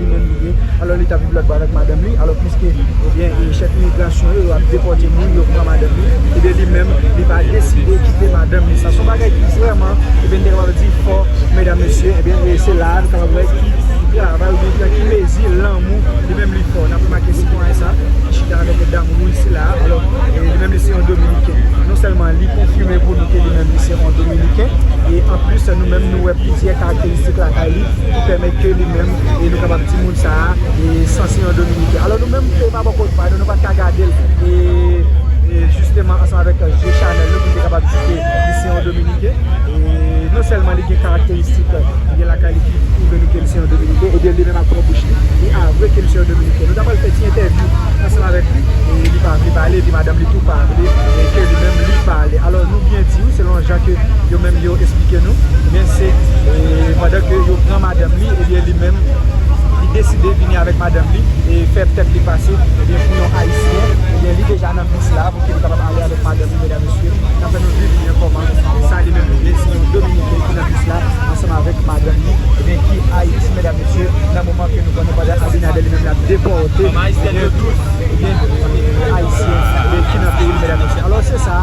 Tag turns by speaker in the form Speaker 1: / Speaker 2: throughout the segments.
Speaker 1: li menm li ye alò li ta viv lòtbò avèk madanm li alò piske ebyen chèf imigrasyon yo yo ap depòte moun yo pran madanm li ebyen li menm li pa deside kite madanm li sa son bagay ki vrèman ebyen nou te kapab di fò medam mesye ebyen e se la a nou kapab wè ki travay oubyen nan ki mezi lanmou li menm li fò n ap remake sitwayen sa ki chita avèk yon dam wouj sila a alò li menm li se yon dominiken non sèlman li konfime pou nou ke li menm li se yon dominiken e anplis nou menm nou wè plizyè karakteristik lakay li. ki pèmèt ke li menm e nou kapab di moun sa a e sanse yon dominiken. Alò nou menm ke pa bò kot pa nou, nou pa t ka gade l e jisteman ansanm avèk je chanèl nou pou nou te kapab di ke li se yon dominiken e non sèlman li gen karakteristik li gen lakay li ki pwouve nou ke li se yon dominiken ebyen li menm ak pwòp bouch li, li avwe ke li se yon dominiken. Nou ta pral fè ti entèvyou ansanm avèk li e li pa vle pale epi madanm li tou pa vle ke li menm li pale. Alò nou byen di wi selon jan ke yo menm yo. esplike nou ebyen se pandan ke yo pran madanm li ebyen li menm li deside vini avèk madanm li e fè tèt li pase ebyen pou yon ayisyen ebyen li deja nan bis la pou ki li kapab ale avèk madanm li medam mesye nap fè nou viv ebyen kòman sa li menm li ye se yon dominiken ki nan bis la ansanm avèk madanm li ebyen ki ayiti medam mesye nan moman ke nou konnen pandan abinader li menm lap depòte ebyen tout ebyen ayisyen ki nan peyi li medam mesye alò se sa.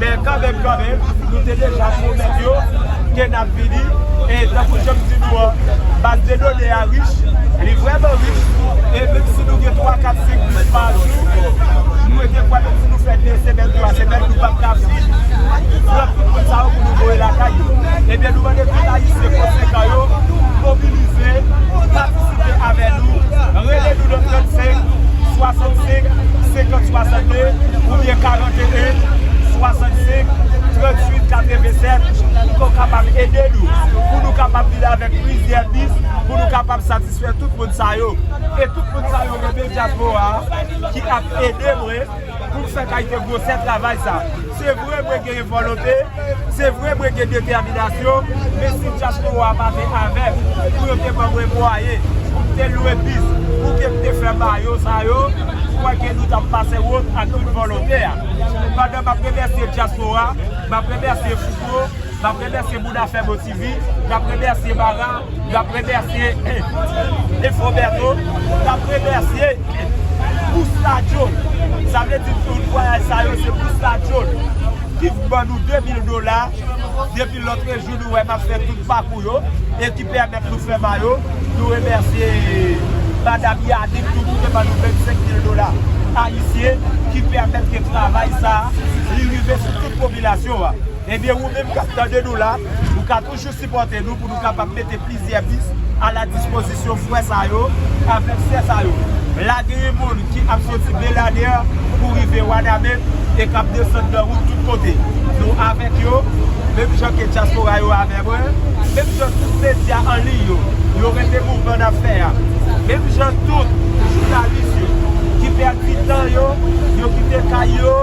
Speaker 2: Men kanmenm kanmenm, nou te deja pwomèt yo ke n ap vini, e tankou jan m di nou an, baz de done a rich, li vrèman rich, e menm si nou gen 3, 4, 5 bis pa jou, nou mwen te kwè menm si nou fè 2 semèn, 3 semèn, nou p ap ka fin pran tout moun sa yo pou nou voye lakay yo. Ebyen nou mande tout Ayisyen konsekan yo mobilize, patisipe avè nou, rele nou nan 35 65 50 62 oubyen 40. 81 65 38 87 pou ke w kapab ede nou pou nou kapab vin avèk plizyè bis pou nou kapab satisfè tout moun sa yo e tout moun sa yo rele dyaspora ki ap ede mwen pou m fè kalite gwosè travay sa se vre mwen genyen volote Se vre mwen gen detèminasyon, men si dyaspora a pa te avè m, pou yo te ban mwen mwayen, pou m te lwe bis, pou ke m te fè mayo sa yo, m kwè ke nou t ap pase wont ak tout volontè a. Pandan m ap remèsye dyaspora, m ap remèsye Fouco, m ap remèsye moun afè m osi. Izi, n ap remèsye Mara, n ap remèsye Efron Bertho, n ap remèsye Pouce Ladyol. Sa vle di tout vwayaj sa yo se Pouce Ladyol ki ban nou 2000 dola depi lotrejou nou wè m ap fè tout pakou yo e ki pèmèt nou fè mayo. Nou remèsye Madam Yanick tou ki te ban nou 25 mil dola ayisyen ki pèmèt ke travay sa li rive sou tout popilasyon an. Ebyen ou menm kap tande nou la, ou ka toujou sipòte nou pou nou kapab mete plizyè bis a la dispozisyon frè sa yo avèk sè sa yo. La gen yon moun ki ap soti Beladè pou rive Wanament e kap desann nan wout tout kote. Nou avèk yo, menm jan ke dyaspora yo avè mwen, menm jan tout medya an liy yo, yo renmen mouvman nap fè a, menm jan tout jounalis yo ki pèdi tan yo, yo kite kay yo,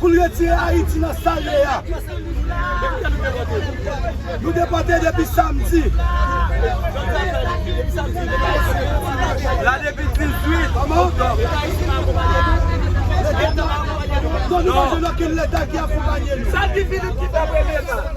Speaker 3: Pou l retire Ayiti nan sa l ye a. Nou depòte depi samdi.
Speaker 2: La depi 18 oktòb. Non nou pa
Speaker 3: jwenn okenn leta ki akonpanye nou.